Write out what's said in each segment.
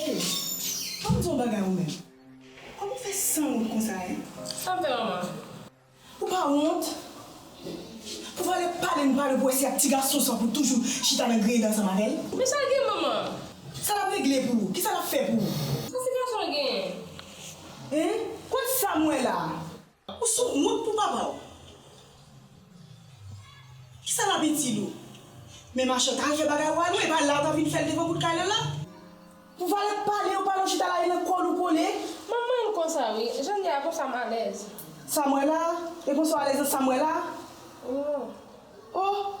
Hey fòm di yon bagay ou menm. Kòman w fè san wont konsa hein? Sa m fè manman? Ou pa wont? Pou pale pale nou pa dwe pwese ak ti gason sa pou toujou chita nan griyen ansanm avèl? Men sal gen manman. Sa lap regle pou ou? Kisa lap fè pou ou? Sa ti gason an genyen? Hein? Kot sam wè la? Ou sou wont pou papa w? Kisa lap itil ou? Men machan t al fè bagay ou a non, epa la ou tap vin fèl devan pout kay Lola? Pou valè k pale yo pale w chita la e nan kòl ou kole. M anmwey m konsa wi, janm ye a konsa m alèz. Sa m wè la, e konsa w alèz nan sa m wè la. Ohh ohh.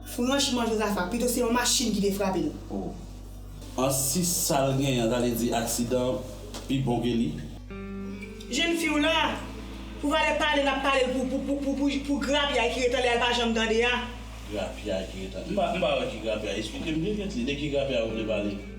Franchman Jozafa, pito se yon machin ki te frape l. Oh. An si sa l genyen an ta vle di aksidan pi bon ke li? Jenn fi w la, pou valè pale n ap pale l pou grapyay ki ret anlè a l pa janm tande a. Grapyay ki ret anlè. M pa wè ki grapyay. Esplike m pi vit li. De ki grapyay ou vle pale?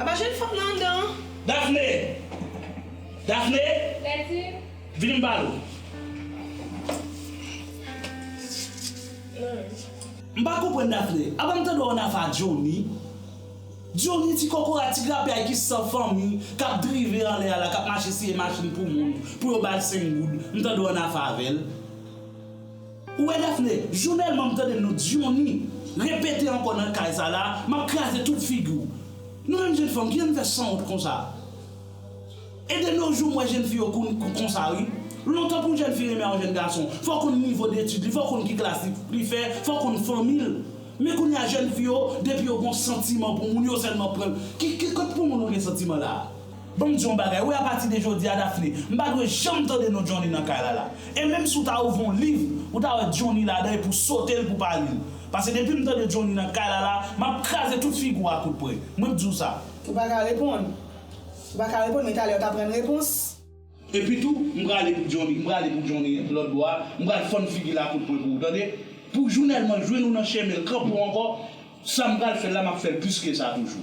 Apa jèn fanm nan anndan an? Dafne! Dafne! Lèdi! Vini m pale w. Lèdi! M pa konprann Dafne. Apa m tande w annafè ak Johnny? Johnny ti kòkòrat, ti grapyay ki san fanmi, k ap drive anlè a la, k ap mache siye machin pou moun, pou yo ba l senk goud, m tande w annafè avè l. Ou wè Daphnée, jounel man m tande non Diony repete ankò nan kay sa la map kraze tout figi w. Nou menm jenn fanm kijan n fè sanwont konsa. E de no jou m wè jenn fi yo konn konsa wi. Lontan pou jenn fi renmen yon jenn gason fò konn nivo detid li, fò konn ki klas li fè, fò konn fanmi l. Men kounye a jenn fi yo depi yo gon santiman pou moun yo sèlman pran l. Ki kot pou moun ou gen santiman la? Ban m di w yon bagay wi apati de jodi a Daphné, m pa dwe janm tande non Johnny nan kay la la. E menm si w ta ouvri yon liv, ou ta wè Johnny ladan epi w sote l pou w pa li l. Pase depi m tande Johnny nan kay la la, m ap kraze tout figi w a kout pre. Mwen k di w sa. Ou pa ka reponn. Ou pa ka reponn men talè w t ap rann repons. Epi tou, m prale pou Johnny, m prale pou Johnny lòt bò a, m pral fann figi l a kout pre pou ou tande. Pou jounèl mwen jwenn ou nan chemen l kanpe w ankò, sa m pral fè l la m ap fè l plis ke sa toujou.